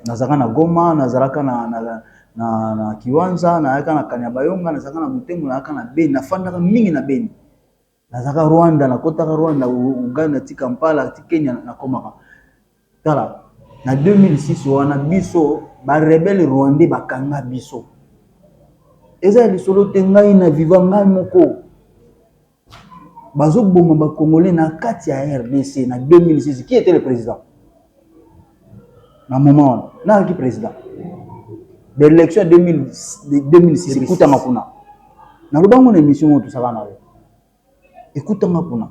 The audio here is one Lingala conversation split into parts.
Nazalaka na goma nazalaka na kiwanja nayaka na kanya bayonga nazalaka na motembo nayaka na beni nafandaka mingi na beni nazalaka rwanda na kotaka rwanda ugai na tika mpala ti kenya na komaka tala na 2006 wana biso barebele rwandais bakanga biso eza ya lisolo te ngai na viva ngai moko Bazo boma ba congolais na kati ya rdc na 2006 qui etait le president na moment wana nani azalaki president ba election ya 2006 ekutama kuna naloba ngo na emission oyo tosaka na yo ekutama kuna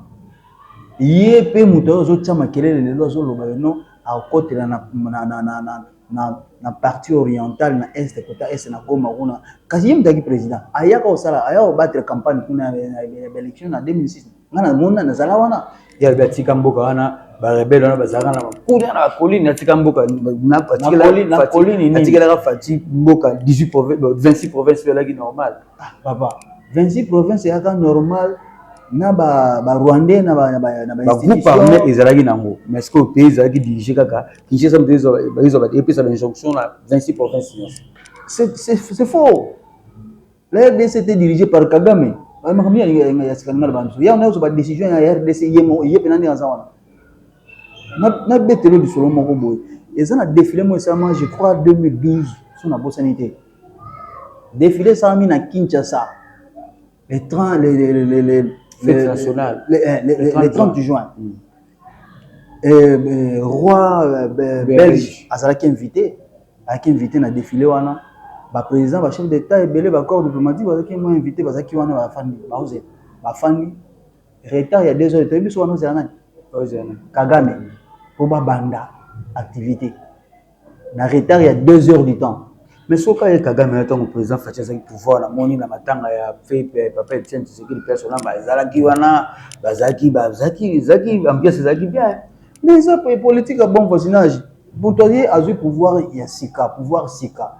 ye mpe moto oyo azotya makelele lelo azoloba yo non akotela na, na, na, na, na na na partie orientale na est kota est na Goma kuna kasi ye mutaki president ayaka osala ayaka obattre campagne kuna na election na 2006 nga na mona na zala wana ya ba tika mboka wana ba rebelle wana bazalaka na kuna na colline na tika mboka na colline na colline na tika la fati mboka 18 province 26 province pe laki normal ah papa 26 province ya ka normal na ba ba rwandais na ba na ba na ba groupe armé ezalaki nango mais ce que pays ezalaki dirige kaka Kinshasa moto ezwa epesa ba injonction na 26 province nyonso. C'est faux. La RDC était dirigée par Kagame. Ba makambo ya ya sikalinga na bantu. Ya na ezwa ba décision ya RDC yemo ye pena nde aza wana. Na na betelo lisolo moko boye. Eza na défilé mo esalama je crois 2012 so na bosani te. Défilé esalami na Kinshasa. le 30 le le le le le national le, eh, le, le, le 30 juin mm. eh, eh, roi euh, be, belge azalaki invité azalaki invité na défilé wana ba président ba chef d'état ebele ba corps diplomatique bazalaki mo invité bazalaki wana ba fandi baoze ba fandi retard ya 2 heures toyebi biso wana ozela nani kagame po babanda activité na retard ya 2 heures du temps mais soki kaka ye kagame ayo ntango président faci azalaki pouvoir namoni na matanga ya fepe papa etienne tshisekedi mpe asona bazalaki wana bazalaki bazalaki ezalaki ambiance ezalaki bien mais eza politique ya bon voisinage moto aye azwi pouvoir ya sika pouvoir sika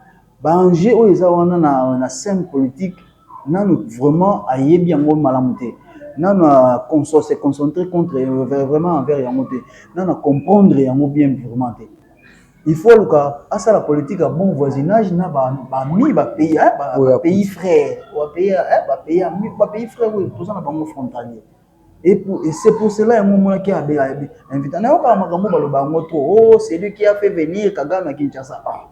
Ba enjeux oyo eza wana na scène politique nanu vraiment ayebi yango malamu te. Nanu a se concentrer contre vraiment envers yango te. Nanu a comprendre yango bien vraiment te. Il faut aluka asala politique ya bon voisinage na ba amis ba pays ba pays frères. Ba pays frères oyo toza na bango frontaliers. Et pour, et c'est pour cela yango omonaki abe abe invita. Nayokaka makambo baloba yango trop. Oh, c'est lui qui a fait venir Kagame à Kinshasa. Ah.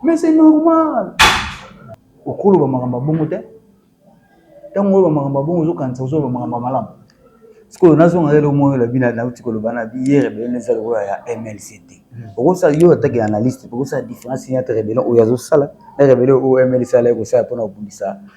Mais c'est normal. Okoloba makambo bongo te. Tango oyo makambo bongo ozokanisa ozoba makambo malamu. Sikoyo nazonga lelo moyo la bina nauti koloba na bi hier ebele neza lokola ya MLCT. Hmm. Okosala yo atake analyste, okosala différence entre rebellion oyo azosala na rebellion oyo MLC ala ekosala mpona kobundisa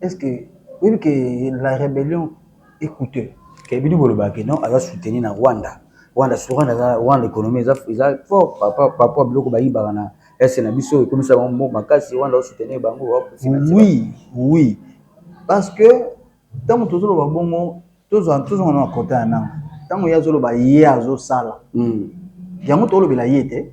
Est-ce que oyebi que la rebellion est couteux? Ke bino bolobaka ke non aza soutenu na Rwanda, Rwanda soki Rwanda aza Rwanda economie eza eza fort par rapport par rapport biloko bayibaka na est na biso ekomisa bango mboka makasi Rwanda o soutenir bango o financer bango. Oui, oui parce que tango tozoloba bongo tozwa tozonga na kota ya nanga tango ye azoloba ye azosala yango tolobela ye te.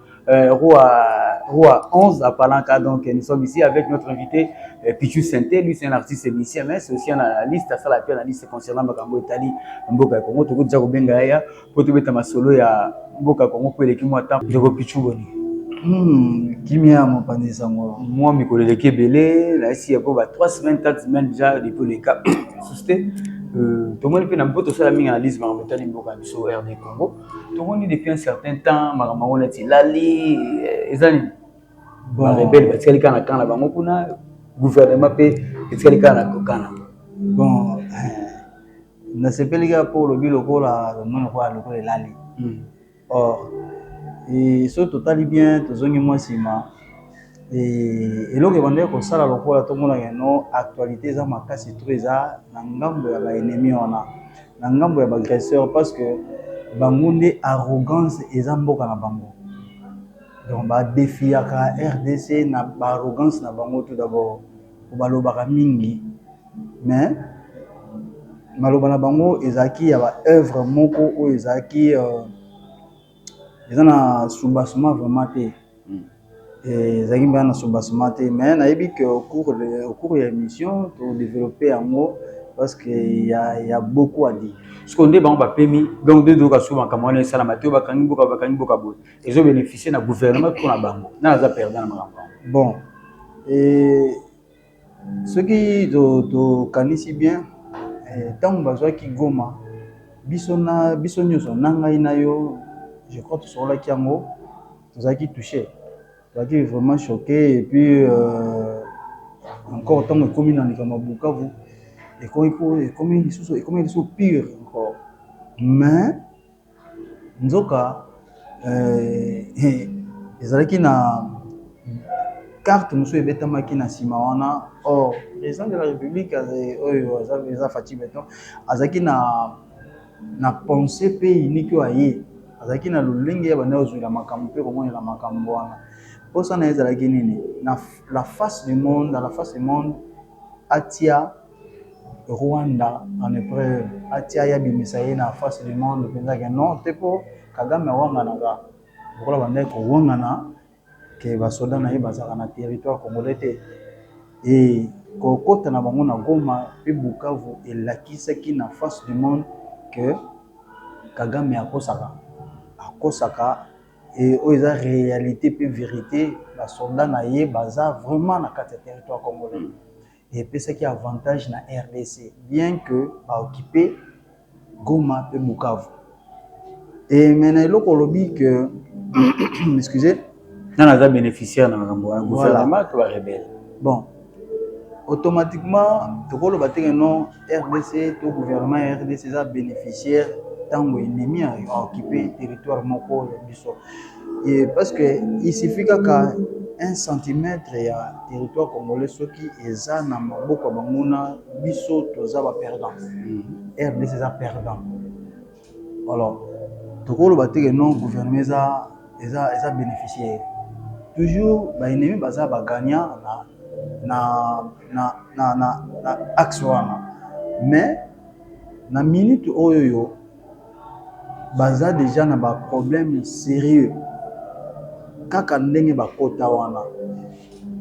Euh, Roi, Roi 11 à Palanca, donc nous sommes ici avec notre invité euh, Pichu Senté, lui c'est un artiste musicien, mais c'est aussi un analyste, asala pe analyste concernant makambo etali mboka ya Congo, tokoki déjà kobenga ya po tobeta masolo ya mboka Congo po eleki mwa temps. Ndeko Pichu boni? Hmm, kimia mopanzi nsango mwa mikolo eleki ebele nayesi ya po ba 3 semaines 4 semaines déjà depuis le cas suste Euh, tomoni mpe na mpo tosala mingi analyse makambo etali mboka ya biso rd congo tomoni depuis un certain temps makambo yango neti elali eh, eza nini barebele batikali kaka na kana bango kuna gouvernement mpe etikali kaka na kokana bon eh, nasepeli kaka mpo olobi lokola omoni lokola lokola elali hmm. or eh, soki totali bien tozongi mwa nsima eloko ebandaki kosala lokola tomonaka no actualité eza makasi to eza na ngambo ya baennemi wana na ngambo ya ba agresseur parce que bango nde arrogance eza mboka na bango donc ba defiaka rdc na ba arrogance na bango tout d'abord po balobaka mingi mais maloba na bango ezalaki ya ba oeuvre moko oyo ezalaki euh, Eza na soubassement vraiment te ezalaki mpenza na soubassement te mais nayebi que au cours ya émission to developper yango parce que ya beaucoup à dire sikoyo nde bango bapemi donc nde toyoka sikoyo makambo wana esalama te oyo bakangi mboka bakangi mboka boye ezo bénéficier na gouvernement mpo na bango nani aza perdant na makambo yango bon Soki tokanisi bien tango bazwaki Goma biso nionso na ngai na yo je crois tosololaki yango tozalaki touche tozalaki vraiment choque et puis encore tango ekomi na likambo ya Bukavu ekomi lisusu pire encore mais Nzoka ezalaki na carte mosusu ebetamaki na nsima wana or president de la republique oyo eza Fatshi beton azalaki na pense pe unique oyo aye azalaki na lolenge ya banda kozwela makambo mpe komonela makambo wana mposa na ye ezalaki nini na la face du monde atia. Rwanda en epreuve atia ye abimisa ye na face du monde penza ke non te po kagame awanganaka lokola abandaki kowangana ke ba soda na ye bazalaka na territoire congolais te et kokota na bango na goma pe bukavu elakisaki na face du monde ke kagame akosaka akosaka et oyo eza realite pe verite ba soda na ye baza vraiment na kati ya territoire congolais epesaki avantage na rdc bien que ba occupe Goma pe Bukavu et mais na eloko olobi que excusez nana aza beneficiaire na makambo wana gouvernement to ba rebelle bon automatiquement tokoloba te que non rdc to gouvernement ya rdc eza beneficiaire ntango ennemi a occupe territoire moko ya biso Yy parce que il suffit kaka un centimetre ya territoire congolais soki eza na maboko ya ba nguna biso toza ba perdants rdc eza perdant alors toko loba te que non gouvernement eza eza eza beneficiaire toujours ba ennemis baza ba gagnants na na na na na axe wana mais na minute oyo baza dejà na ba problème serieux kaka ndenge bakota wana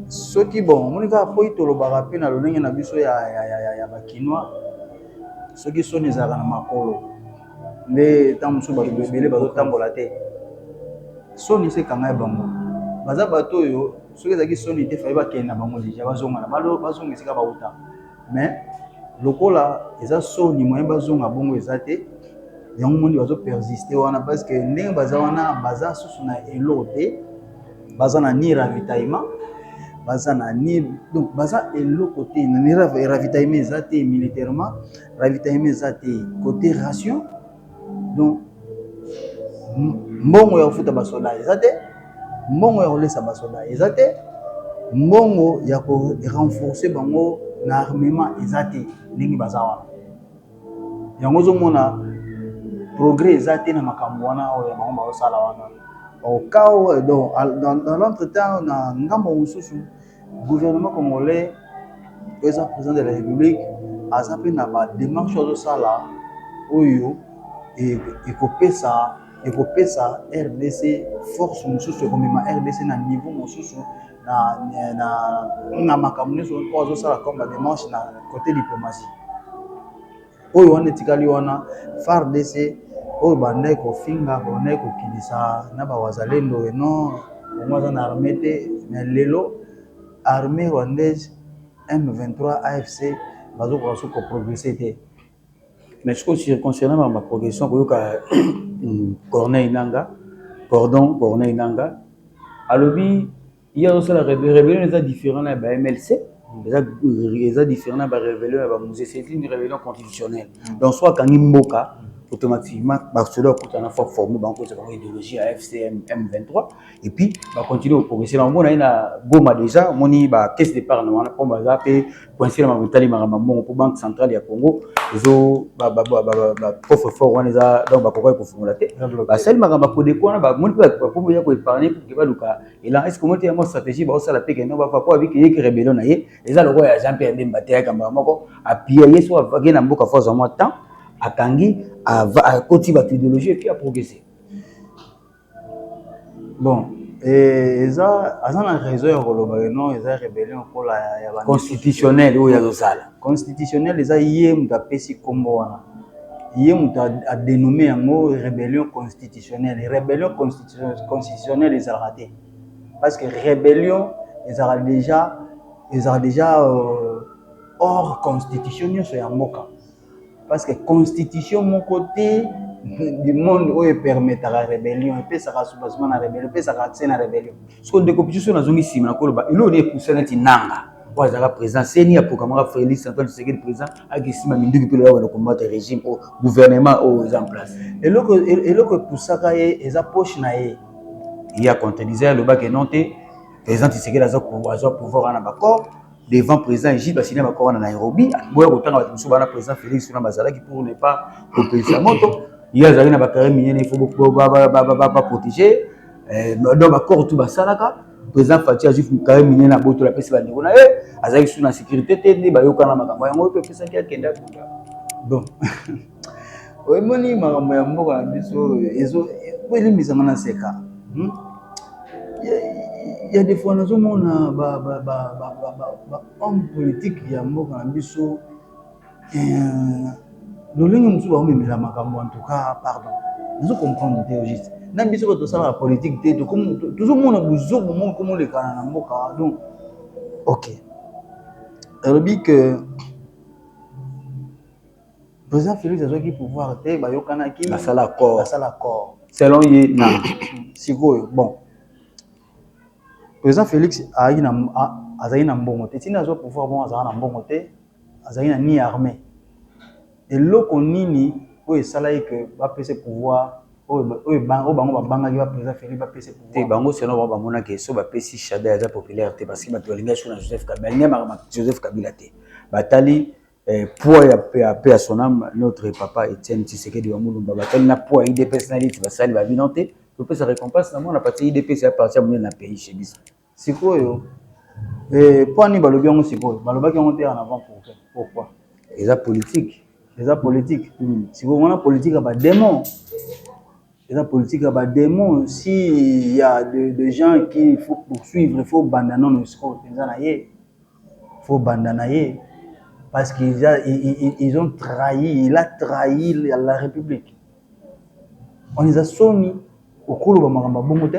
soki bon omoni kaka po tolobaka pe na lolenge na biso ya ba kinois soki soni ezalaka na makolo nde tango mosusu bato ebele bazotambola te soni se ekangayi bango baza bato oyo soki ezalaki soni te fale bakende na bango dejà bazonga na bazonga esika bawuta. mais lokola eza soni moyen bazonga bongo eza te yango moni bazo persiste wana parce que ndenge baza wana baza susu na eloko te baza na ni ravitaillement baza na ni donc baza eloko te na ni ravitaillement eza te militairement ravitaillement eza te côté ration donc mbongo ya kofuta basoda eza te mbongo ya kolesa basoda eza te mbongo ya ko renforce bango na armement eza te ndenge baza wana yango ozomona progrès eza te na makambo wana oyo bango baosala wana okao donc dans l'entretemps na ngambo mosusu Gouvernement congolais eza president de la republique aza pe na ba demarche oyo azosala oyo ekopesa ekopesa rdc force mosusu ekomema rdc na niveau mosusu na makambo nyonso oyo azosala comme ba demarche na cote diplomatie. Oyo wana etikali wana fardc oyo bandaki kofinga bandaki kokitisa na ba wazalendo et non congo aza na armee te mais lelo armee rwandaise M23 AFC bazokoka soki ko progresse te mais sikoyo sur concernant ba progression koyoka corneille nanga cordon corneille nanga alobi ye azosala rebellion eza différent na ya ba mlc eza différent na ba rebellion ya ba musee c'est une rebellion constitutionnelle mm. donc soit akangi mboka automatiquement basoda bakutana fo forme bango kozala bango idéologie ya fcm m23 et puis bacontinue koprogresse na omona ye na goma déjà omoni ba caisse départ na wana mpo baza mpe coince na makambo etali makambo mbongo mpo banque centrale ya congo ezo coffre fort wana eza donc bakokaki kofungola te basali makambo ya kodeko wana bamoni mpe bakomi ya koepargne mpo ke baluka elanga esi komona te yango stratégie baosala mpe kende bafa mpo abiki yeki rebellion na ye eza lokola ya jean pierre bemba te yaka mbala moko appuya ye so ake na mboka fo azwa mwa temps akangi akoti bato idéologie epuis aprogresse bon eh, eza aza na raison ya koloba que non eza rebellion lokola ya constitutionnel oyo azosala constitutionnel eza ye moto apesi nkombo wana ye moto adenome yango rebellion constitutionnel rebellion constitutionnel constitutionnel ezalaka te parce que rébellion ezalaka déjà ezalaka déjà euh, hors constitution nyonso ya mboka parce que constitution moko te du monde oyo epermetaka rébellion epesaka soubassement na rébellion epesaka accès na rébellion soko ndeko biso nazongi nsima nakoloba eloko nde epusa neti nanga oyo azalaka président ceni aprogrammaka félix antoine tshisekedi président akisima minduki mpe lolaka na kombata régime oyo gouvernement oyo eza en place eloko epusaka ye eza poche na ye ye acontredise alobaka non te président tshisekedi aza azwa pouvoir wana na baccord devant président egide basina baccord wana na nairobi boya kotanga bato mosusu bana président félix wana bazalaki pour ne pas kopelisa moto ye azalaki na bacarrière miniene il faut baprotégé eh, donc bakoro tu basalaka président fati azwi kaye minene abotola apesi bandeko na ye azalaki su na sécurité te nde bayokana makambo yango oyo epesaki akende akunda bon oyemoni makambo ya mboka na biso elimbisanga na seka hmm? ya defoi nazomona bahomme politique ya mboka na biso Euh, lolenge mosusu bakomemela makambo en tout cas pardon nazo comprendre te au juste na biso bato tosalaka politique te tozomona buzobu moko komolekana na mboka donc ok alobi ke président félix azwaki pouvoir te bayokanaki basala accord basala accord selon ye na sikoyo bon président félix azalaki na mbongo te ntina azwa pouvoir bongo azalaka na mbongo te Azalaki na ni arme. Eloko nini oyo esalaki que ba pesa ye pouvoir oyo bango ba bangaki ba president Felix ba pesa ye pouvoir? Te, bango selon bango ba mona que soki ba pesi Shadary aza populaire te parce que batu balingaki surtout na Joseph Kabila. Balingaki makambo ya Joseph Kabila te. Ba tali poids ya paix à son ame notre papa Etienne Tshisekedi wa Mulumba. Ba tali na poids ya udps na ye neti basali ba bilan te. Topesa recompense na mwana parce que udps eza parti ya munene na pays chez biso. Sikoyo eh, mpo ani balobi yango sikoyo? Balobaki yango te en avant pour pourquoi? Eza politique, eza politique. Mm. Sikoyo wana politique ya ba démons. Eza politique ya ba démons. Si il y a de, de gens qui il faut poursuivre, il faut banda non non sikoyo penza na ye. Il faut banda na ye parce qu'ils a, ils, ils, ils ont trahi, il a trahi la, la République. On les a soni okoloba makambo bongo te.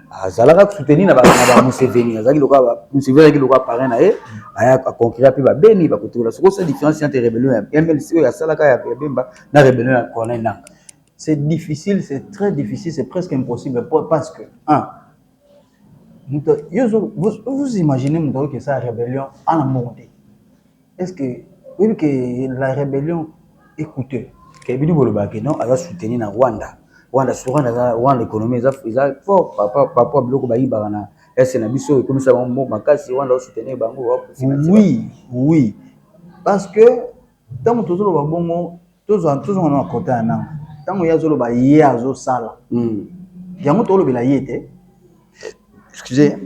azalaka soutenir na ba Museveni azalaki lokola Museveni azalaki lokola parrain na ye aya aconquira mpe babeni bakotokola soko sa différence entre rebellion ya MLC oyo asalaka ya Bemba na rebellion ya Corneille Nangaa c'est difficile c'est très difficile c'est presque impossible parce que un vous, vous imaginez moto oyo kesa rebellion ana mbongo te Est-ce que oyebi que la rebellion est couteux? Ke bino bolobaka ke non aza soutenu na Rwanda, Rwanda soki Rwanda aza Rwanda economie eza eza fort par rapport par rapport biloko bayibaka na est na biso ekomisa bango mboka makasi Rwanda o soutenir bango. Oui oui parce que tango tozoloba bongo tozwa tozonga na makota ya nanga ntango ye azoloba ye azosala mm. yango tolobela ye te excuse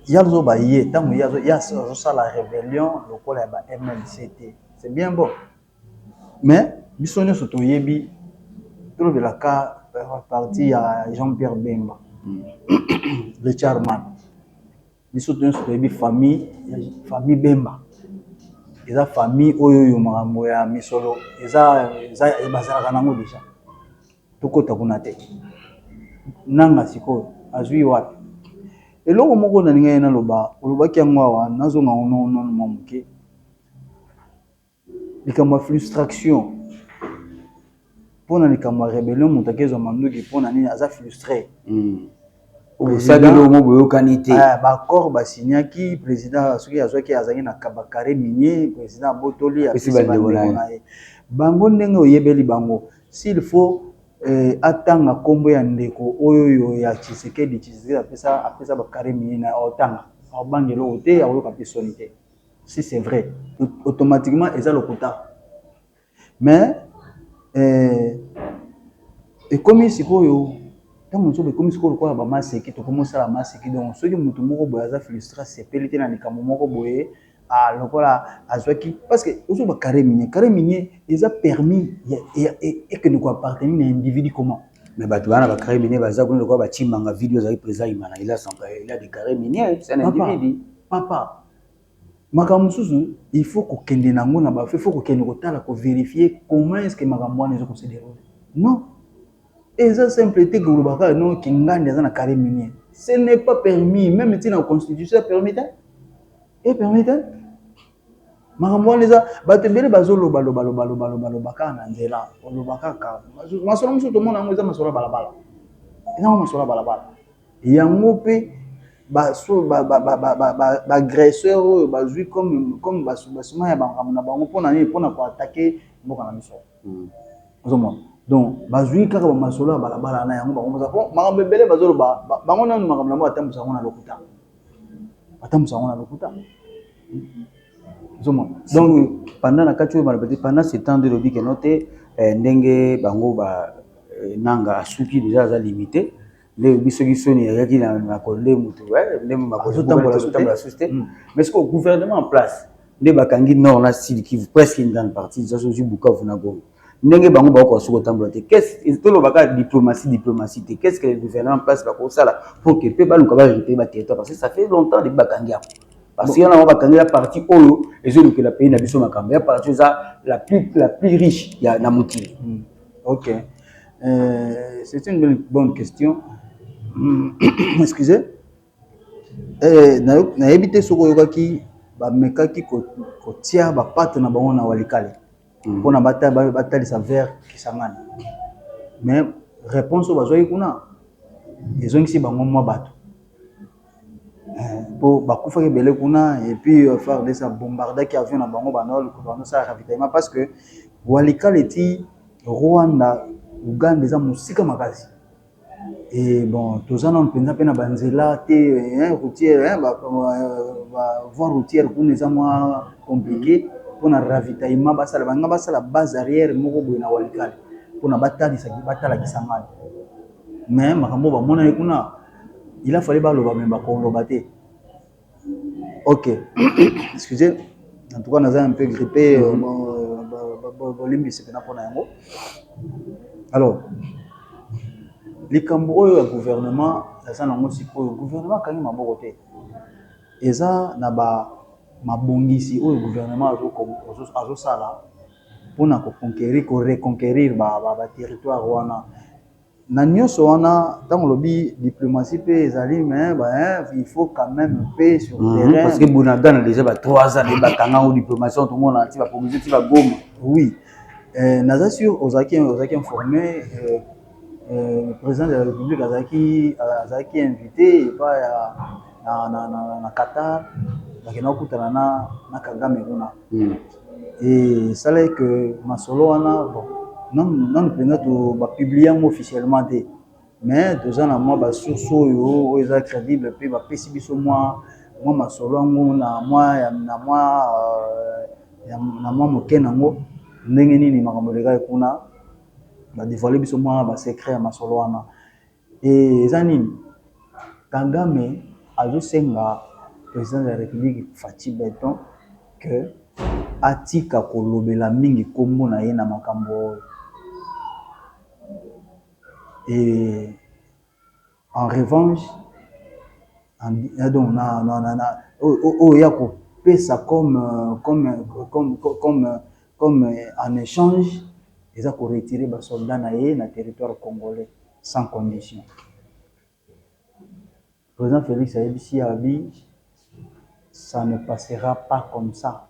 ye azoba ye ntango ye azosala rébellion lokola ya ba mlc te c'est bien bon mais biso nyonso toyebi tolobelaka parti ya jean pierre bemba le charman Biso nionso toyebi famille ya famille Bemba eza famille oyo oyo makambo ya misolo eza bazalaka nango deja tokota kuna te nanga sikoyo azwi wapi eloko moko nalingai naloba olobaki yango awa nazonga ngo nono mwa moke Likambo ya flustraction pona likambo ya rebellion mutu akezwa manduki pona nini aza flustre osalelongo boyokani te eh, ba accord ba signaki president soki azwaki azalaki na ba carre minier president abotoli apesi bandeko na ye bango ndenge oyebeli bango s'il faut eh, atanga kombo ya ndeko oyo ya tshisekedi tshisekedi apesa apesa ba carre minier na otanga abanga eloko te akoyoka mpe soni te Si c'est vrai automatiquement eza lokuta mais eh, ekomi sikoyo ntango mosusu ekomi sikoyo lokola bamaseki tokomi osala maseki donc soki motu moko boye aza frustre asepeli te na likambo moko boye ah, lokola azwaki parce que ozo ba carré minier carré minier eza permis ekende ko appartenir na individu comment mais bato bana ba carré minier baza kuna lokola batimbanga video ezali président imana il a son il a des carré minier c'est un individu Papa makambo mosusu il faut kokende na yango na ba il faut kokende kotala ko verifier comment est-ce que makambo wana ezo ko se derouler non eza simple te koloba kaka non kingandi aza na carré minier ce n'est pas permis même ti na constitution ya permis te e permis te makambo wana eza bato ebele bazoloba loba loba loba loba loba kaka na nzela oloba kaka masolo mosusu tomona yango eza masolo ya balabala eza yango masolo ya balabala Yango pe ba agresseur oyo bazui comme ba soubassements ya ba makambo na bango pona nini? Pona ko attaquer mboka na biso ozo mona donc bazui kaka ba masolo ya bala bala na yango bango moko po makambo ebele bazo loba bango nanu makambo na bango ba tambusa yango na lokuta ba tambusa yango na lokuta ozo mona donc pendant na kati oyo ba loba te pendant ce temps nde elobi que non te ndenge bango ba Nanga asuki dejà aza limite Lelo biso ki soni ya yaki na na konde mutu eh, nde makonde azo tambola azo tambola sous te hmm. mais ce que gouvernement en place nde bakangi nord na sud qui presque une grande partie déjà sozi Bukavu na Goma ndenge bango ba ko suko tambola te qu'est-ce que tolo baka diplomatie diplomatie te qu'est-ce que le gouvernement en place ba ko sala pour que pe ba luka ba récupérer ba territoire parce que ça fait longtemps depuis bakangi ya parce que yana bakangi la partie oyo ezo lukela pays na biso makambo ya partie eza la plus la plus riche ya na mokili hmm. Ok, euh, c'est une bonne, bonne question. Hmm, excusez. Eh, nayebi te soki oyokaki bamekaki kotia bapate na bango na walikale hmm. mpo na batalisa vers Kisangani, mais réponse oyo bazwaki kuna ezongisi bango mwa bato po bakufaki ebele kuna et puis fardc a bombardaki avion na bango banda koluka kosala ravitaillement parce que walikale ti Rwanda Ouganda eza mosika makasi et bon toza nanu penza pe na ba nzela te routière ba voie routière kuna eza mua complique pona ravitaillement basala balinga basala base arrière moko boye na walikale pona batalisa batalakisa ngai mais makambo oyo bamonaki kuna il a fallu baloba me bakoloba te ok excuse en tout cas naza un peu grippe bolimbisi mpena mpona yango alors likambo oyo ya gouvernement eza nango sikoyo gouvernement akangi maboko te eza na ba mabongisi oyo gouvernement azosala mpona koconquérir koreconquérir baterritoire wana Na nionso wana tango olobi diplomatie pe ezali mais ba il faut quand meme pe sur terrain. Mm -hmm, parce que Bunagana dejà ba 3 ans ba kanga ngo diplomatie to mona ti ba promotion ti ba goma. Oui. Euh, naza sur ozaki ozaki informé euh, euh, le président de la République azaki azaki invité epa ya na na na, na Qatar bakenda kokutana na na Kagame kuna. Mm. esalaki que masolo wana bon nanu penza ba publie yango officiellement te mais toza na mua ba source oyo eza credible pe ba pesi biso mua masolo yango na mua muke nango ndenge nini makambo elekaki kuna ba devoile biso mua ba secret ya masolo wana Eeh eza nini? Kagame azo senga president de la republique Fatshi beton que atika ko lobela mingi kombo na ye na makambo oyo et en revanche donc na na na na oyo ya ko pesa comme comme comme comme comme en échange eza ko retirer ba soldats na ye na territoire congolais sans condition président Felix ayebisi ya bi ça ne passera pas comme ça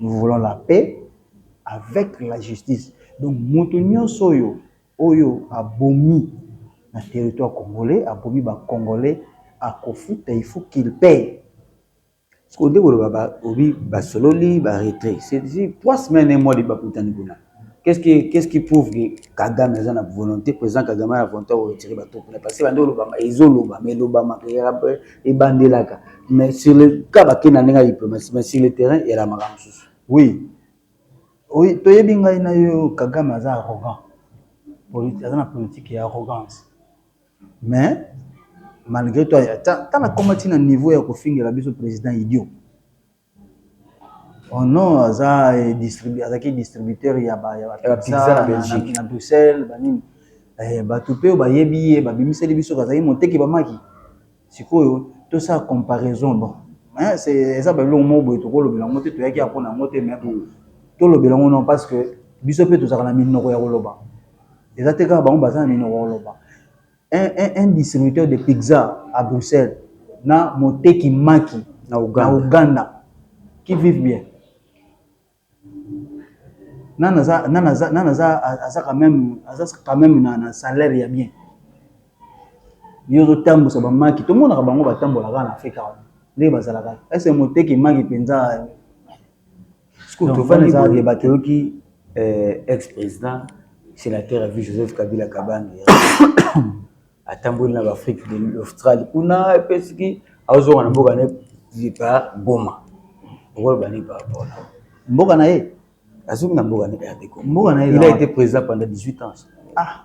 Nous voulons la paix avec la justice. Donc moto nyonso oyo oyo abomi na territoire congolais, abomi ba congolais akofuta il faut qu'il paie. Sikoyo nde koloba ba obi basololi ba retrait. C'est trois semaines un mois de bakutani kuna. Qu'est-ce qui qu'est-ce qui prouve que Kagame aza na volonté président Kagame a volonté ko retirer ba troupes là parce que bande olobama ezo loba mais lobama que ebandelaka mais sur le cas ba kenda ndenge diplomatie mais sur le terrain et la makambo susu oui oui toyebi ngai na yo Kagame aza arrogant politique aza na politique ya arrogance mais malgré toi tala comment tina niveau ya kofingela biso président idiot Oh non aza distributeur azaki distributeur ya ba ya ba pizza na Belgique na Bruxelles ba nini eh batu pe oyo bayebi ye ba bimiseli biso azali moteki ba maki sikoyo tosala comparaison bon hein c'est eza ba eloko moko boye toko lobela yango te toyaki awa pona yango te mais bon tolobela yango non parce que biso pe tozalaka na minoko ya koloba eza te kaka bango baza na minoko ya koloba Un, un, un distributeur de pizza à Bruxelles na moteki maki na Ouganda qui vivent bien. Nani aza, nani aza, nani aza, aza quand même, aza quand même na, na salaire ya bien. Yo ozotambusa ba maki, tomonaka bango batambolaka na Afrika wana. Ndenge bazalaka. Est-ce que moteki maki mpenza Euh, ex president senateur ya vie Joseph Kabila Kabange atamboli na b'Afrique de l'Australie kuna epesiki azonga na mboka na ye par Goma okoloba nini par rapport na mboka na ye azongi na mboka na ye RD Congo mboka na ye il a été président pendant 18 ans ah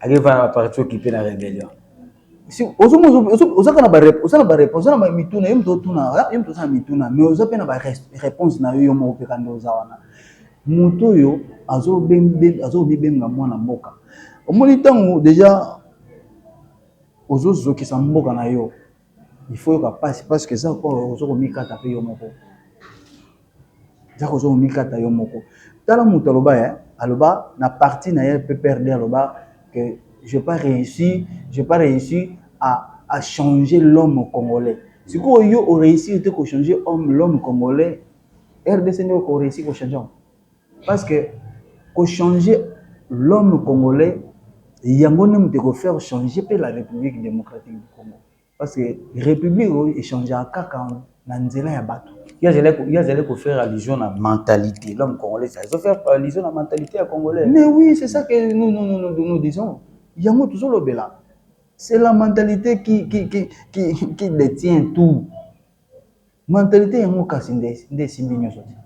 Allez voir la partie occupée la rébellion. Si ozo ozo kana ba ozo na ba réponse na mituna yem to tuna ah, yem to sana mituna mais ozo pe na ba réponse na yo moko pe kando oza wana. Moto yo azo ben azo bibenga mwana mboka. Omoni tango déjà ozo zokisa mboka na yo. Il faut oyoka pasi parce que eza lokola ozo komikata pe yo moko. Eza kozo komikata yo moko. Tala moto aloba eh, aloba na parti na ye PPRD aloba que je pas reussi, je pas reussi à à changer l'homme congolais. Sikoyo yo o reussir te ko changer homme l'homme congolais, rdc nde oko reussir ko changer yango? Parce que ko changer l'homme congolais yango nde mutu eko faire changer pe la Republique Democratique du Congo. Parce que Republique oyo e changeaka kaka na nzela ya batu. Ye azali ko faire allusion na mentalite, l'homme congolais azo faire allusion na mentalite ya congolais. Mais oui, c'est ça que nous disons, yango tozo lobela. C'est la mentalite qui detient tout. Mentalite yango kasi nde nde esimbi nionso te.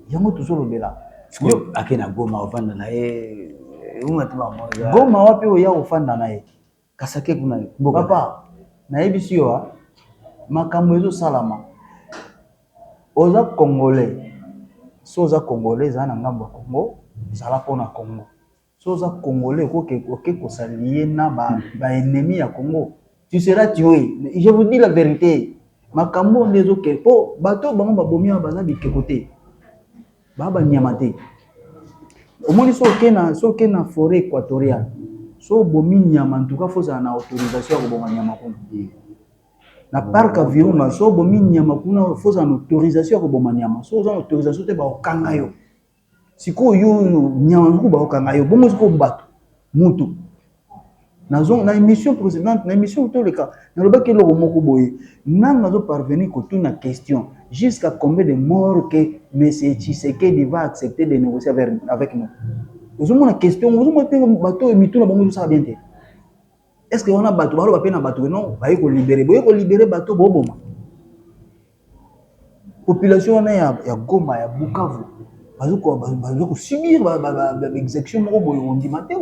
Yango tozo lobela. Sikoyo ake na Goma ofanda na ye eunga te ba mwa. Goma wapi oya ofanda na ye? Kasi ake kuna mboka. Papa nayebisi yo a makambo ezo salama. Oza congolais, soki oza congolais zala na ngambo ya Congo zala pona Congo. Soki oza congolais okoki oke ko s'allier na ba ennemis ya Congo tu seras tue je vous dis la verite makambo oyo nde ezokende mpo bato oyo bango babomi awa baza bikeko te baa banyama te omoni so oke na so oke na foret équatoriale so obomi nyama ntuka fo ozala na autorisation ya koboma nyama kuna na parc ya virunga so obomi nyama kuna fo ozala na autorisation ya koboma nyama so oza na autorisation te baokanga yo Sikoyo yo yo nyama moko bakokanga yo bongo sikoyo bato moto nazonga na émission précédente na émission toleka nalobaki eloko moko boye nanga azo parvenir kotuna question jusqu'à combien de morts que monsieur Tshisekedi va accepter de négocier avec, avec nous ozomona question ozomona te bato oyo mituna bango ezosala bien te Est-ce que wana bato baloba pe na bato que non baye ko libere boye ko libere bato boboma population wana ya, ya Goma ya Bukavu bazo kosubir baexecution moko boye ondima te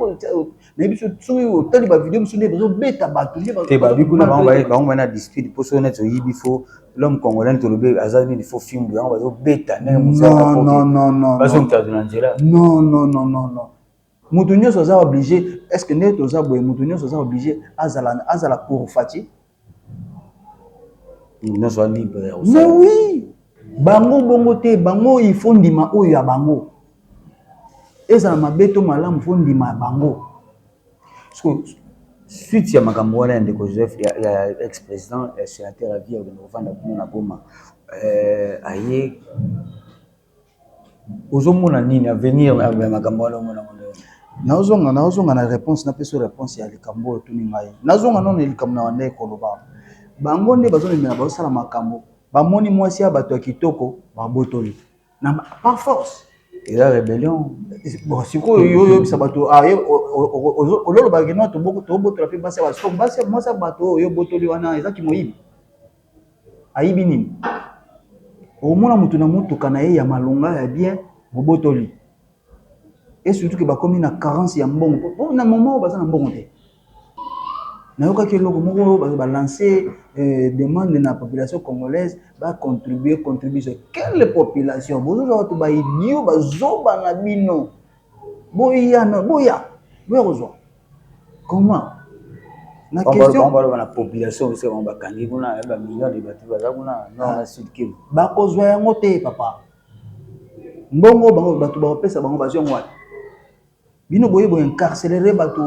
nayebi biso soki otali bavideo mosusu nde bazobeta bato te babi kuna bango bana ya dispute mpo soki neti oyibi fo l'homme congolais neti olobi aza nini fo fimbu yango bazobeta ndenge mosusu bazongitazo na nzela non non non non non Mutu nionso aza oblige est ce que nde toza boye mutu nionso aza oblige azala azala pour Fatshi? Mutu nionso a libre ya Mais oui bango bongo te bango il faut ndima oyo ya bango ezala mabe to malamu faut ndima ya bango suite ya makambo wana ya ndeko joseph ya, ya ex président ya sénateur ya vie akende kofanda kuna na goma euh, aye Ozo mona nini avenir ya makambo wana omona yango ndenge nini? Nazo zonga, nazo zonga na reponse, napesa yo reponse ya likambo oyo otuni ngai. Nazo zonga nanu na likambo na bandaki koloba. Bango nde bazo memela, bazo sala makambo, ba moni mwasi ya batu ya kitoko, ba botoli. Na par force. Eza rebellion. Bon, sikoyo yo oyebisa batu, ah, oloba que non, tobotola pe basi ya batu. Sikoyo basi, mwasi ya batu oyo yo obotoli wana, eza kimoyibi? ayibi nini omona mutu na mutuka na ye ya malonga ya bien bobotoli et surtout que bakomi na carence ya mbongo po na moment oyo baza na mbongo te nayokaki eloko moko oyo bato balance eh, demande na population congolaise bacontribue contribution quelle population bozozwa bato baidio bazoba na bino boya na boya boya kozwa comment na Bango question bango baloba na population biso bango bakangi kuna eh, ba millions de bato baza kuna nord na sud kivu bakozwa yango te papa mbongo bango bato bakopesa bango bazwi yango wapi bino boye boincarcelere bato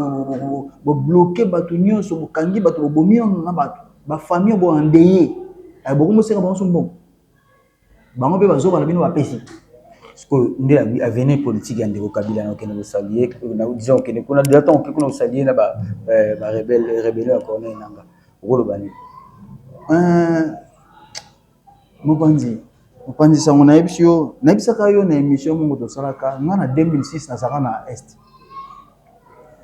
bobloke bato nyonso bokangi bato bobomi ono na bato bafamille boandeye bokomosenga bango so mbongo bango mpe bazoba na bino bapesi sikoyo nde avenir politique ya ndeko kabila nakokende kosalie naodisa kokende kuna deja ntango oke kuna kosalie na barebelio eh, ya corneille nanga okoloba nini eh, mopanzi mopanzi sango nayebisi yo nayebisaka yo na émission moko tosalaka ngai na 2006 nazalaka na est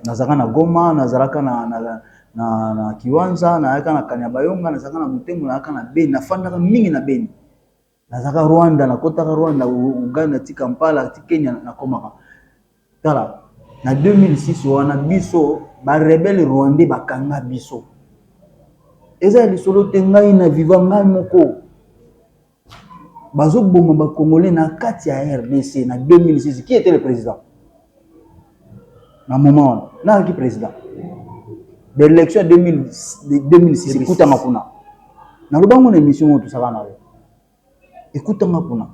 nazalaka na goma nazalaka na kiwanza nayaka na kanya bayonga nazalaka na motemo nayaka na beni nafandaka mingi na beni nazalaka rwanda nakotaka rwanda uganda ti kampala ti kenya na komaka tala na 2006 wana biso ba rebelle rwandais bakanga biso eza ya lisolo te ngai na viva ngai moko Bazo boma ba congolais na kati ya rdc na 2006 qui etait le president na moment wana nani azalaki president ba election ya 2006 ekutama kuna naloba ngo na emission oyo tosaka na yo ekutama kuna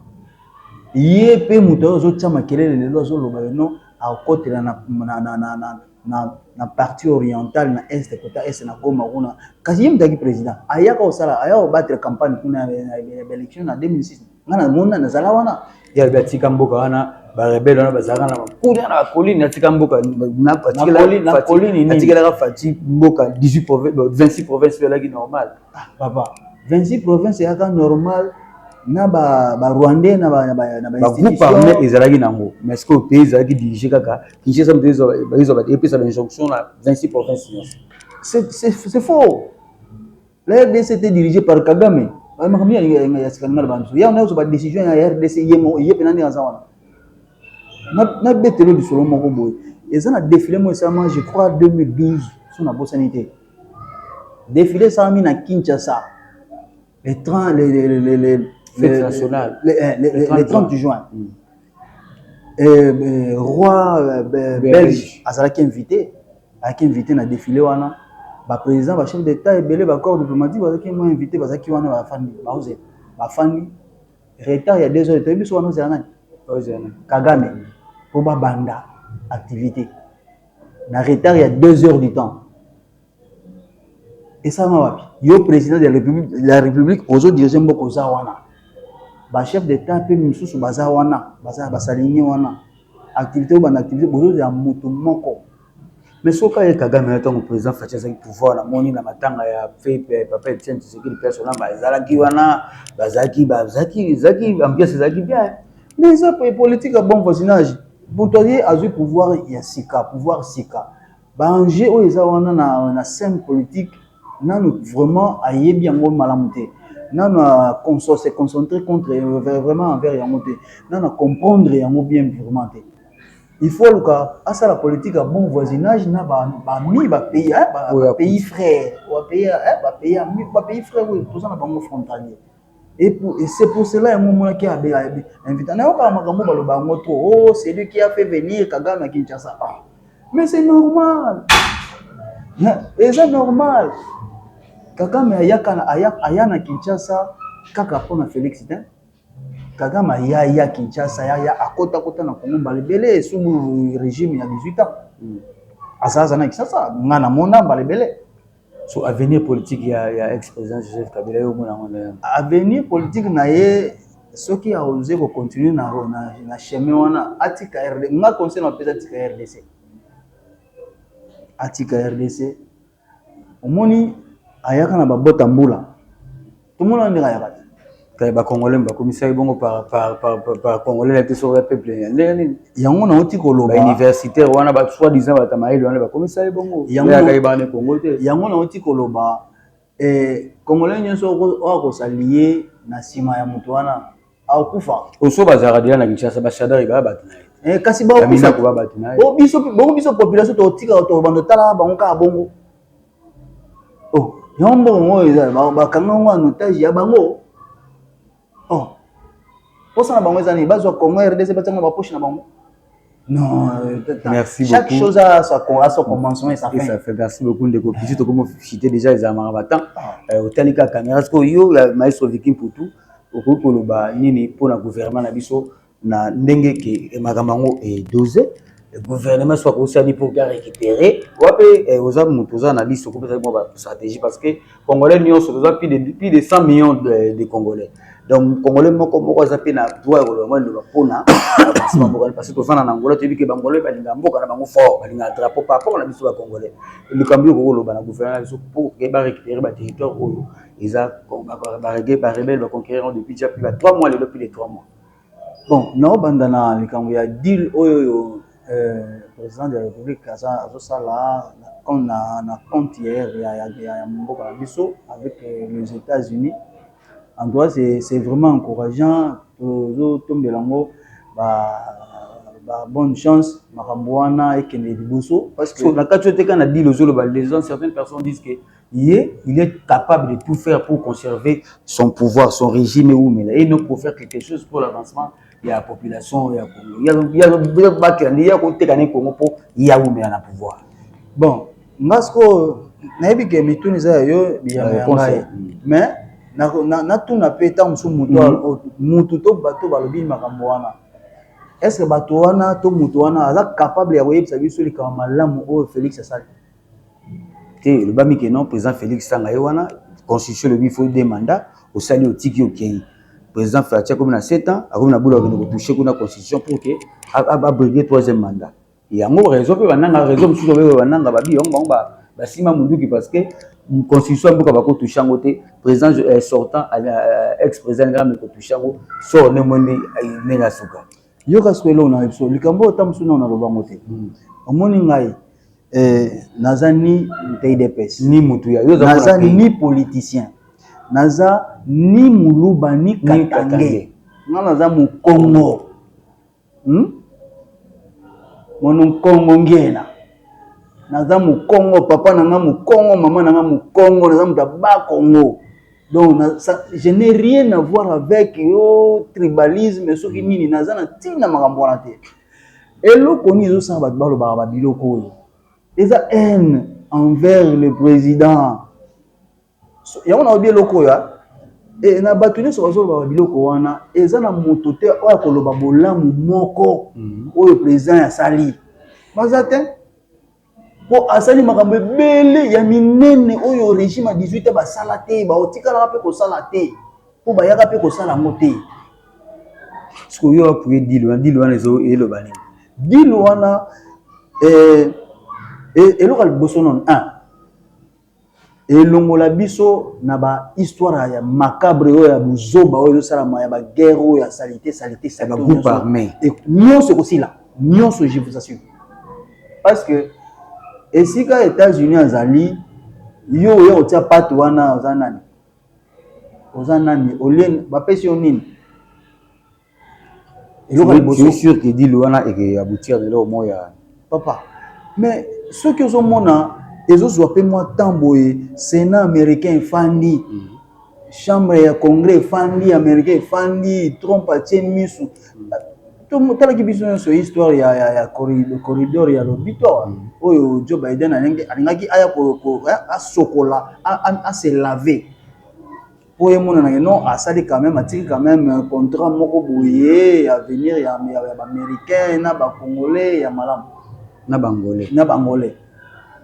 ye mpe moto oyo azotya makelele lelo azoloba yo non akotela na, na, na, na, na na na partie orientale na est kota est na Goma kuna kasi ye mutaki president ayaka osala ayaka obattre campagne kuna na election na 2006 nga na mona na zala wana ya ba tika mboka wana ba rebelle wana bazalaka na kuna na colline na tika mboka na colline na colline na tika la fati mboka 18 province 26 province pe laki normal ah papa 26 province ya ka normal na ba ba rwandais na ba na ba na ba groupe armé ezalaki nango mais ce que pays ezalaki dirige kaka Kinshasa moto ezwa epesa ba injonction na 26 province nyonso. C'est faux. La RDC était dirigée par Kagame. Ba makambo ya ya sikanima na bantu. Ya na ezwa ba décision ya RDC yemo ye pena nde aza wana. Na na betelo lisolo moko boye. Eza na défilé mo esalama je crois 2012 so na bosani te. Défilé esalami na Kinshasa. Le 30, le, le, le, le, Fête nationale. le, eh, le- le- le 30 juin, Mm. euh, euh, roi euh, be- Belge. belge azalaki invité azalaki invité na défilé wana baprésident bachef d'état ebele bacorps diplomatique bazalaki mo invité bazalaki wana bafandi baoze bafandi retard ya deux heures toyebi biso wana ozela nani Ozana. kagame mpo babanda activité na retard ya deux heures du temps Esalama wapi? Yo president de la republique ozo dirige mboka oza wana, ba chef d'etat pe misusu baza wana, baza ba salinier wana, activite oyo banda activite bozo zela mutu moko mais soki kaka ye Kagame wana tangu president Fatshi azalaki pouvoir na moni na matanga ya papa Etienne Tshisekedi pe asolanga bazalaki wana bazalaki bazalaki ezalaki ambiance ezalaki bien mais eza politique ya bon voisinage mutu aye azwi pouvoir ya sika pouvoir sika Ba enjeux oyo eza wana na scène politique nanu vraiment ayebi yango malamu te. Nanu a se concentrer contre vraiment envers yango te. Nanu a comprendre yango bien vraiment te. Il faut aluka asala politique ya bon voisinage na ba amis ba pays ba pays frères. Ba pays frères oyo toza na bango frontaliers. Et pour, et c'est pour cela yango omonaki abe abe invita. Nayokaka makambo baloba yango trop. Oh, c'est lui qui a fait venir Kagame à Kinshasa. Ah. Mais c'est normal. Et c'est normal. Kagame ayaka na aya, aya na Kinshasa kaka mpo na Felix te. Kagame aya ya Kinshasa aya ya akota kota na Congo mbala ebele sous régime ya 18 ans. Mm. Azaza na Kinshasa, nga na mona mbala ebele. So avenir politique ya ya ex president Joseph Kabila yo omona yango ndenge nini? Avenir politique na ye soki a oser ko continuer na na chemin wana atika RDC. Nga conseil na pesa atika RDC. Atika RDC. Omoni ayaka na ba bota mbula. tomona ndenge ayaka te kaya bakongole bakomisaki bongo bacongole na biso ya peuple ya ndenge nini yango nauti koloba universitaire wana basoi disant bata mayele wana bakomisaki bongo yangoyakaki bana kongo te yango nauti koloba kongole eh, nyonso oyo kosaliye na nsima ya moto wana akokufa oso bazalaka deja na kinshasa bashadari baya bato na ye eh, kasi baobiso population totika tobanda tala bango kaka bongo oh yango mbongo oyo eza bakanga yango en otage ya bango oh mposa na bango eza nini bazwa congo rdc batiango na bapoche na bango Non, euh, merci chaque beaucoup. chose a sa, a son commencement et sa fin. Et ça fait merci beaucoup ndeko Piti to komo cité déjà les amara batan. Ah. Euh, otali ka caméra parce que yo la maestro Viking Poutou okoki koloba nini mpo na gouvernement na biso na ndenge ke makambo yango e dose gouvernement soki akosani pour bien récupérer wapi eh, oza moto oza na liste okopesa mwa ba stratégie parce que congolais nyonso toza plus de plus de 100 millions de, de congolais donc congolais moko moko aza mpe na droit ya koloba mwa liloba mpona avancement mboka parce que tofanda na angola toyebi ke bangolais balingaka mboka na bango fort balingaka drapeau par rapport na biso ba congolais likambo yo kokoloba na gouvernement na biso pour ke ba récupérer ba territoire oyo eza barebelle baconquérir depuis déjà plus ba 3 mois lelo plus de 3 mois Bon nao banda na likambo ya deal oyo oyo president de la republique aza azosala na compte ya mboka na biso avec les etats unis en tout cas ce vraiment encourageant tozotombela yango ba bonne chance makambo wana ekende liboso parceque na kati oyo te kaka na deal ozoloba certaines personnes disent que ye il est capable de tout faire pour conserver son pouvoir son régime ewumela et non pour faire quelque chose pour l'avancement ya population ya congo batela nde ye akoteka ne congo mpo ye awumela na pouvoir bon nga sikoyo nayebi ke mituni eza ya yo biyano ya ngai mais natuna mpe ntango mosusu moto mutu to bato balobi makambo wana est ce que bato wana to moto wana aza capable ya koyebisa biso likambo malamu oyo félix asali te elobami ke non president felix tanga ye wana constitution elobi faut deux mandat osali otiki okeyi president fatshi akomi na 7 ans akomi na boule ya kokende ko touche kuna constitution pour ke a brigue troisième mandat yango raison pe ba nanga raison mosusu oyo ba nanga ba bi yango bango ba simba munduki parce que constitution ya mboka bako touche yango te president sortant ex president alingaki ameka ko touche yango sort ne moni ndenge asuka yoka sikoyo eloko na biso likambo oyo ta mosusu nao naloba yango te hmm. omoni ngai eh, naza ni udps ni mutu ya naza ni politicien naza ni muluba ni katange nga naza mokongo hmm? mono nkongo ngena naza mokongo papa na nga mokongo mama na nga mokongo naza moto ya bakongo donc na, ça, je n'ai rien à voir avec yo tribalisme soki nini naza na ntina makambo wana te eloko nini ezosala bato balobaka babiloko oyo eza haine envers le président yango naobi eloko oyo ah. e, na bato nyonso bazolobaka biloko wana eza na moto te oyo akoloba bolamu moko mhm. oyo président asali baza te po asali makambo ebele ya minene oyo regime ya 18 basala te baotikalaka mpe kosala te mpo bayaka mpe kosala yango te sikoyo apuye dil wana dil wana eloba nini dil wana eh, eh, eloko ya liboso nono Elongola biso na ba histoire ya macabre oyo ya buzoba oyo ezosalama ya ba guerre oyo ya salite salite salite ba groupe arme nionso ekosila nionso je vous assure parce que esika Etats-Unis azali yo oya kotia pate wana oza nani oza nani olie bapesi yo nini eloko ya liboso sur que dit wana et que aboutir na eloko moko ya papa mais soki ozomona ezozwa mpe mwa temps boye sénat américain efandi mm. chambre ya congrès efandi américain efandi trump atie misu totalaki biso nyonso histoire ya, ya, ya corridor ya lobito awa mm. oyo joe biden alingaki aya asokola ase lave po emonana que non asali quand même atiki quand même euh, contrat moko boye ya avenir ya ba américain na ba congolais ya malamu na bangolais na bangolais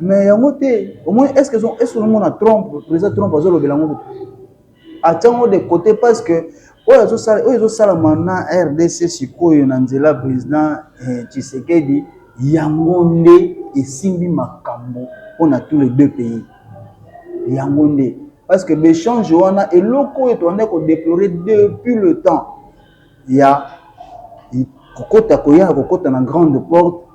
mais yango te omoni est ce que est ce que omona trump président trump azolobela yango kutu atiango de côté parce que oyo azosala oyo ezosalama na rdc sikoyo na nzela président eh, tshisekedi yango nde esimbi makambo mpo na tous les deux pays yango nde parce que b'echange wana eloko oyo toanda kodeplore depuis le temps ya kokota koya ya kokota na grande porte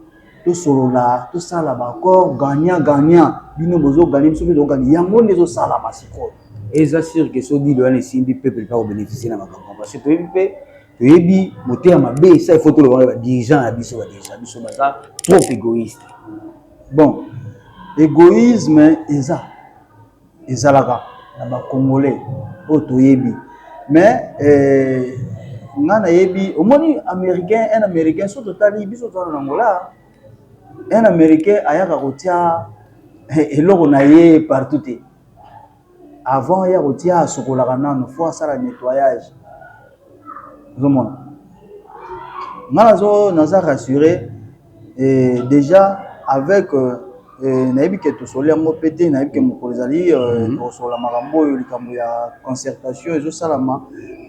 tosolola tosala baaccord gagnant gagnant bino bozoganye biso mpe toganye yango nde ezosalama sikoyo eza sur ke so dilo wana esimbi peuple mpe akobénéficie na makambo parce que toyebi mpe toyebi moteya mabe esa ifo tolobaka badirigeant ya biso badirigeant biso baza trop égoïste bon égoïsme eza ezalaka na ba congolais oyo toyebi mais euh, nga nayebi omoni américain un américain so totali biso tozala na angola un américain ayaka kotia eh, eloko na ye partout te avant ya kotia asokolaka nano fo asala nettoyage ozomona nga nazo naza rassure Eh dejà avec eh nayebi que tosoli yango pe te nayebi que mokolo ezali tokosolola makambo oyo likambo ya concertation ezosalama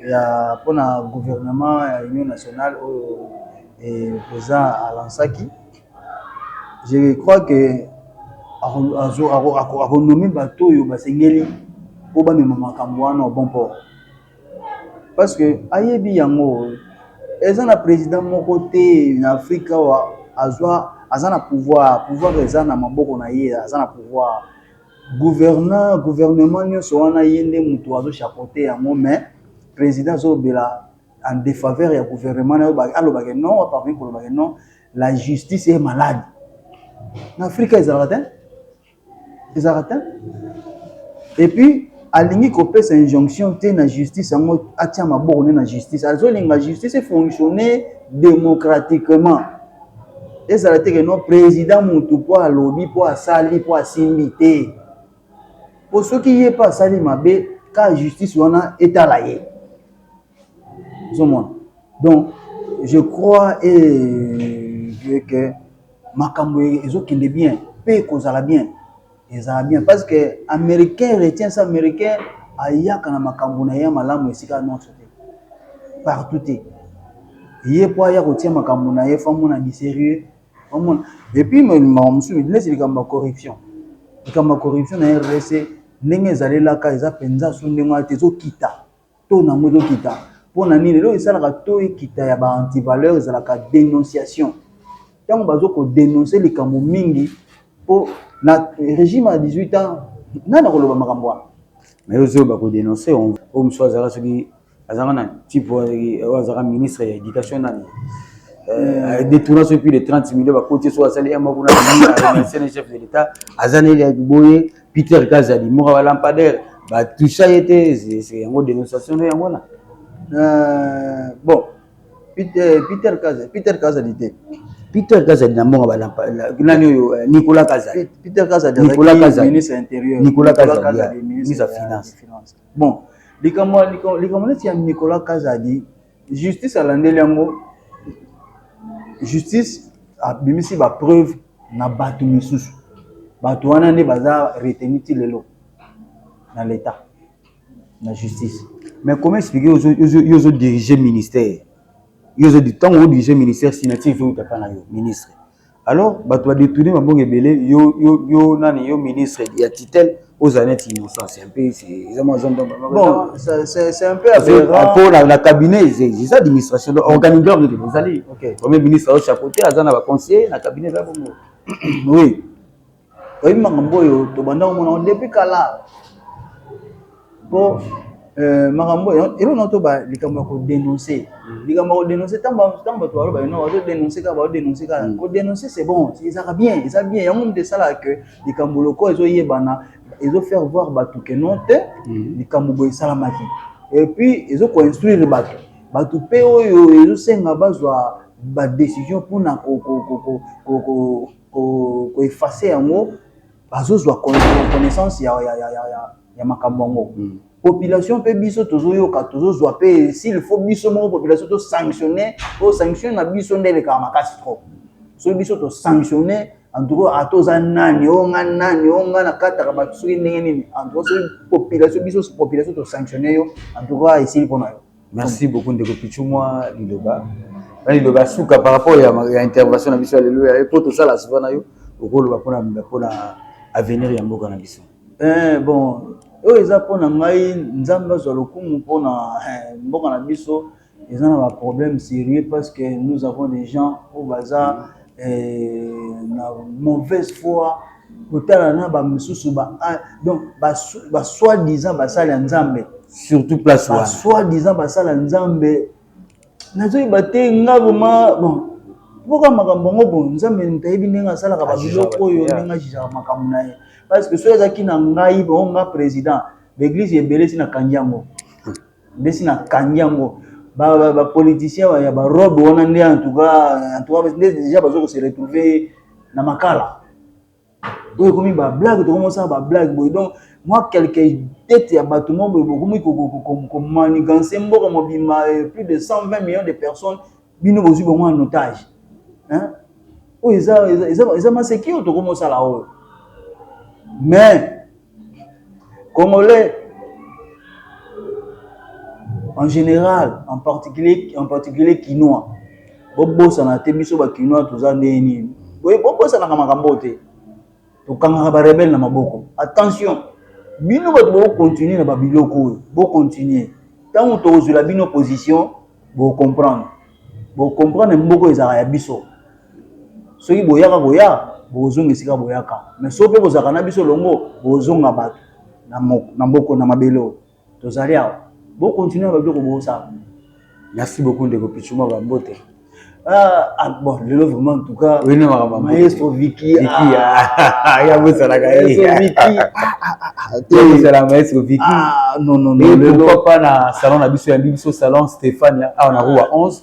ya pona gouvernement ya union nationale oyo president a lansaki je crois que ako nommer batu oyo basengeli po bamema makambo wana au bon port. Parce que ayebi yango eza na president moko te na afrika awa azwa aza na pouvoir pouvoir eza na maboko na ye aza na pouvoir gouverneur gouvernement nyonso wana ye nde moto azo chapote yango mais president azolobela en defaveur ya gouvernement naye aloba ke non akoki koloba ke non la justice est malade na afrika ezalaka te. ezalaka te et puis alingi kopesa injonction te na justice yango atia maboko ne na justice azolinga justice efonctionne démocratiquement ezala te ke no président mutu mpo alobi mpo asali mpo asimbi te mpo soki ye mpe asali mabe ka justice wana etala ye ozomona donc je crois et je que makambo ezokende bien mpe ekozala bien ezala bien parce que américain retient ça américain ayaka na makambo na ye ya malamu esika nyonso te partout te ye mpo aya kotia makambo na ye fo amona biserieux omona epuis makambo mosusu neti likambo ya corruption likambo ya corruption na rdc ndenge ezalelaka eza mpenza so ndenge wana te ezokita taux na yango ezokita mpo na nini? Eloko esalaka taux ekita ya ba antivaleur ezalaka denonciation, ntango bazo ko denoncer likambo mingi mpo na regime ya 18 ans nani akoloba makambo wana? Mais oyo zoba ko denoncer oyo mosusu azalaka soki azalaka na type oyo azalaka ministre ya éducation nani Euh, détourna soki plus de 30 millions bakoti soki asali un mois kuna remercie na chef de l'état aza na ye ya boye Peter Kazadi moka ba lampadaire ba toucha ye te c'est yango dénonciation na yango wana euh, bon Peter Peter Kazadi Peter Kazadi te Peter Kazadi na monga ba lampa nani oyo euh, Nicolas Kazadi Peter Kazadi Nicolas Kazadi ministre intérieur Nicolas Kazadi ministre ya finance bon likambo likambo neti ya Nicolas Kazadi Justice alandeli yango justice abimisi ba preuve na bato misusu bato wana nde baza retenu ti lelo na l'etat na justice mais comment expliquer yo ozo dirige ministère yo ozo ntango ozo dirige ministère signature ezo wuta epai na yo ministre alors bato ba detourne mabongo ebele yo, yo, yo nani yo ministre ya tutelle ozala neti innocent c'est un peu eza mwa zombo bon c'est un peu aberrant po na na cabinet eza administration donc organigramme nini ezali premier ministre azo chapeauter aza na ba conseiller na cabinet eza bongo oui Oyebi makambo oyo tobanda komona yango depuis kala mpo euh, makambo oyo eloko na toba likambo ya kodenonse likambo ya kodenonse ntango bato baloba eno bazodenonse kaka bazodenonse kaka mm. kodenonse c'est bon ezalaka bien eza bien yango moto esalaka ke likambo loko ezoyebana ezo faire voir bato ke non te mm. likambo boye esalamaki et puis ezo koinstruire bato bato mpe oyo ezosenga bazwa badecision mpona ko effacer yango bazozwa connaissance ya, ya, ya, ya, ya, ya makambo yango mm. population mpe biso tozoyoka tozozwa mpe s'il faut biso moko population to sanctionne o sanctionne na biso nde elekaka makasi trop soki biso to sanctionne en tout cas ata oza nani o nga nani o nga nakataka bato soki ndenge nini en tout cas soki population biso population to sanctionne yo en tout cas esili mpo na yo Merci beaucoup ndeko Pichu mwa liloba na liloba suka par rapport ya, ya intervention na biso ya lelo ya mpo tosala souvent na yo okoloba mpona mpona avenir ya mboka na biso. Eh, bon oyo eza mpo na ngai nzambe azwa lokumu mpo na eh, mboka na biso eza na baproblème sérieux parce que nous avons des gens oyo baza euh, na mauvaise foi kotala na ba misusu ba ah, donc ba, ba soi disant basali ya nzambe surtout place wana soi disant basala nzambe nazoyeba te nga vraimen bon mpoka makambo yango bo nzambe ntayebi ndenge asalaka babiloko oyo ndenge ajijaka makambo na ye parce que soki ezalaki na ngai bango nga président baeglise ebele ti nakangi yango ndesi na kangi yango ba politicien ya ba robe wana nde en tout cas en tout cas nde déjà bazo ko se retrouver na makala oyo ekomi ba blague tokomi osala ba blague boye donc mwa quelque tete ya bato moko boye bokomi komaniganse mboka mobimba eh, plus de 120 millions de personnes bino bozwi bango en otage hein oyo eza eza eza maseki oyo tokomi osala oyo mais congolais en général en particulier en particulier kinois bobosana te biso ba kinois toza ndenge nini bobosanaka makambo te Tokangaka ba rebelles na maboko. Attention! Bino batu bo continuer na ba biloko oyo, bo continuer. Tango tokozwela bino position, boko comprendre. Boko comprendre mboka oyo ezalaka ya biso. Soki boyaka koya, bokozonga esika boyaka. Mais soki pe bozalaka na biso elongo, bokozonga batu na maboko, na mabele oyo. tozali awa bo continuer ba biloko bosala merci beaucoup ndeko pichuma ba mbote ah, ah bon lelo vraiment en tout cas oui non makambo maestro Vicky Vicky ah ya bosala ka ye Vicky ya bosala maestro Vicky ah non non non lelo papa na salon na biso ya biso salon Stéphane awa na rue 11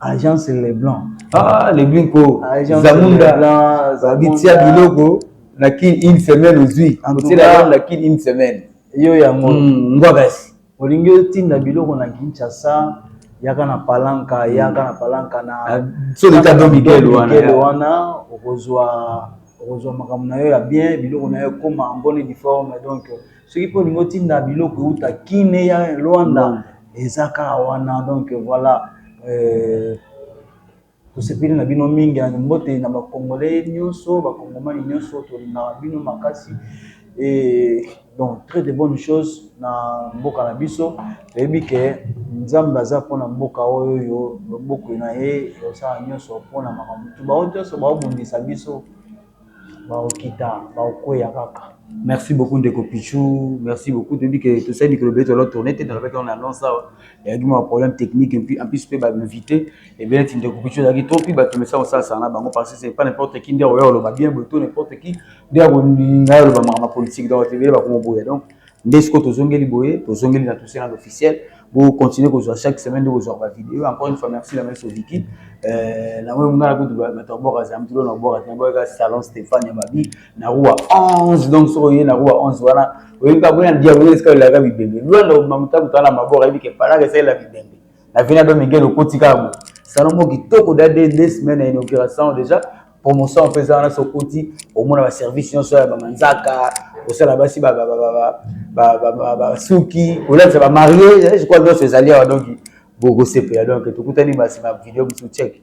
agence leblanc ah leblanc ko zamunda bitia biloko na kin une semaine ozwi otiela yango na kin une semaine yo yango hmm, ngwabasi olingi otinda biloko na kinshasa yaka na palanka hmm. yaka na palanka na ah, solita do miguel wana okozwa okozwa makambo na yo ya bien biloko na yo ekoma en bonne uniforme donc soki pe olingi otinda biloko euta kin eya luanda eza kaka wana donc voilà euh, tosepeli na bino mingi ya mbote na bakongole nyonso bakongomani nyonso tolingaka bino makasi e donc très de bonne chose na mboka na biso toyebi ke nzambe aza mpona mboka oyo oyo loboko na ye osala nyonso mpona makambo tu baoyo nyonso baobundisa biso bakokita bakokweya kaka. Merci beaucoup ndeko Pitshou, merci beaucoup toyebi que tosali mikolo ebele tozala tourne te, nalobaki yango na annonce awa, eyaki mwa problème technique et puis en plus mpe ba invité ebele neti ndeko Pitshou azalaki trop mpe bato omesana kosalasana na bango parce que c'est pas n'importe qui nde akoya koloba bien boye to n'importe qui nde akolinga aloba makambo ya politique donc bato ebele bakomoboya donc Nde sikoyo tozongeli boye, tozongeli na Toussaint l'officiel. Bo continuer kozwa chaque semaine nde kozwa ba video. Encore une fois merci la maison Vicky. Euh, na wewe mwana kutu ba bato bora za mtulo na bora na boka salon Stéphane ya mabi na rua 11 donc soko ye na rua 11 wana oyebi ka boya ndia boya ska la gabi bembe. Luanda mamuta kutana mabora yebi ke pala ke sala bibembe. Na vina do Miguel okotika bo. Salon mo kitoko da de semaine na inauguration déjà promotion mpe eza wana soki okoti omona baservice nyonso ya bamanzaka kosala basi basuki kolatisa bamarie je crois nyonso ezali awa donki bokosepela donk tokutani basi na video mosusu ceke